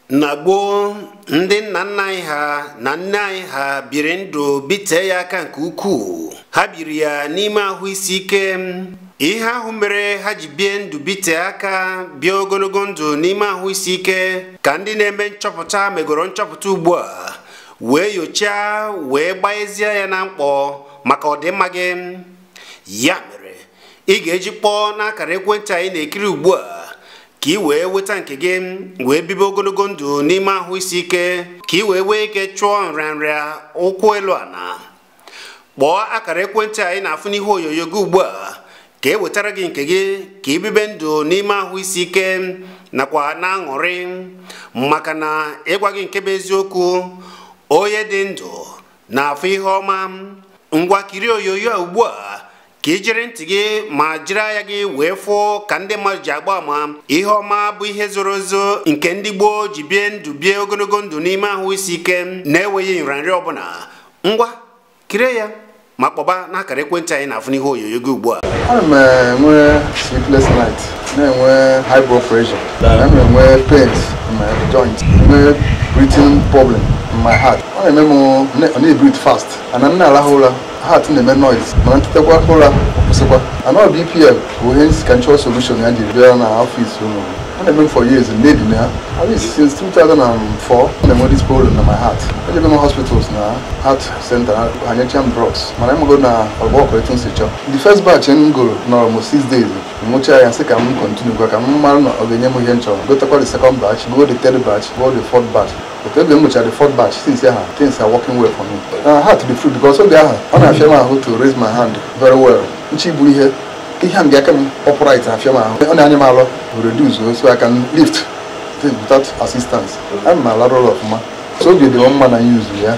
na gboo ndị nna nna anyị ha na nne anyị ha biri ndụ bitee ya aka nke ukwuu ha biri ya n'ime ahụ isi ike ihe ahụ mere ha ji bie ndụ bite aka bie ogologo ndụ n'ime ahụ isi ike ka ndị na-eme nchọpụta megoro nchọpụta ugbu a wee yochaa wee gbazie ya na mkpọ maka ọdịmma gị ya mere ị ga-eji kpọọ n'akara ekwentị anyị na-ekiri ugbu a ka ị wee weta nke gị wee bibe ogologo ndụ n'ime ahụ isi ike ka ị wee nwee ike chụọ nrịanrịa ụkwụ elu ana kpọọ akara ekwentị anyị na-afụ n'ihu onyonyo gị ugbu a ka e wetara gị nke gị ka ị bibe ndụ n'ime ahụ isi ike nakwa n'aṅụrị maka na ịgwa gị nke bụ eziokwu onye dị ndụ na-afụ ihe ọma ngwa kirie onyonyo a ugbu a ka i jiri ntị gị ma jiri anya gị wee fụ ka ndị mmadụ ji agba ama ihe ọma bụ ihe zoro ezo nke ndị gboo ji bie ndụ bie ogologo ndụ n'ime ahụ isi ike na-enweghị nrịanrịa ọbụla ngwa kirie ya ma kpọba n'akara ekwentị anyị na-afụ n'ihu onyonyo gị ugbu a ana m enwe sleepless night na-enwe high blood pressure ana m enwe pains in my joint enwe breathing problem in my heart ọ na-eme m na-ebreathe fast ana m na-arahụ ụra heart na-eme noise mana m tetakwa ụra kwụsịkwa ana ọ bp m bụ ihe m sị ka m chọrọ solution ya jiri bịa na office unu ọ na-eme m for years na-ebi na ya at least since 2004 na-enwe this problem na my heart ejebe m hospitals na heart center ha nyecha m drugs mana emego na ọgwụ ọkụ etu m si chọọ the first batch m goro nọrọ m six days m ṅụcha ya sị ka m continue gwa ka m mara na ọ ga-enye m ihe m chọrọ gotakwa the second batch go the third batch go the fourth batch But ebe m ṅụchara the fourth batch since aha things are working well for me. I had to be free because oge aha ọ na-afịa m ahụ to raise my hand very well. Nchi bụ ihe ihe m ga-aka m upright afịa m ahụ. Ọ na-anyị m alọ reduce so I can lift things without assistance. Ana m alarụ ụla ọfụma. So oge dị mma na use ya.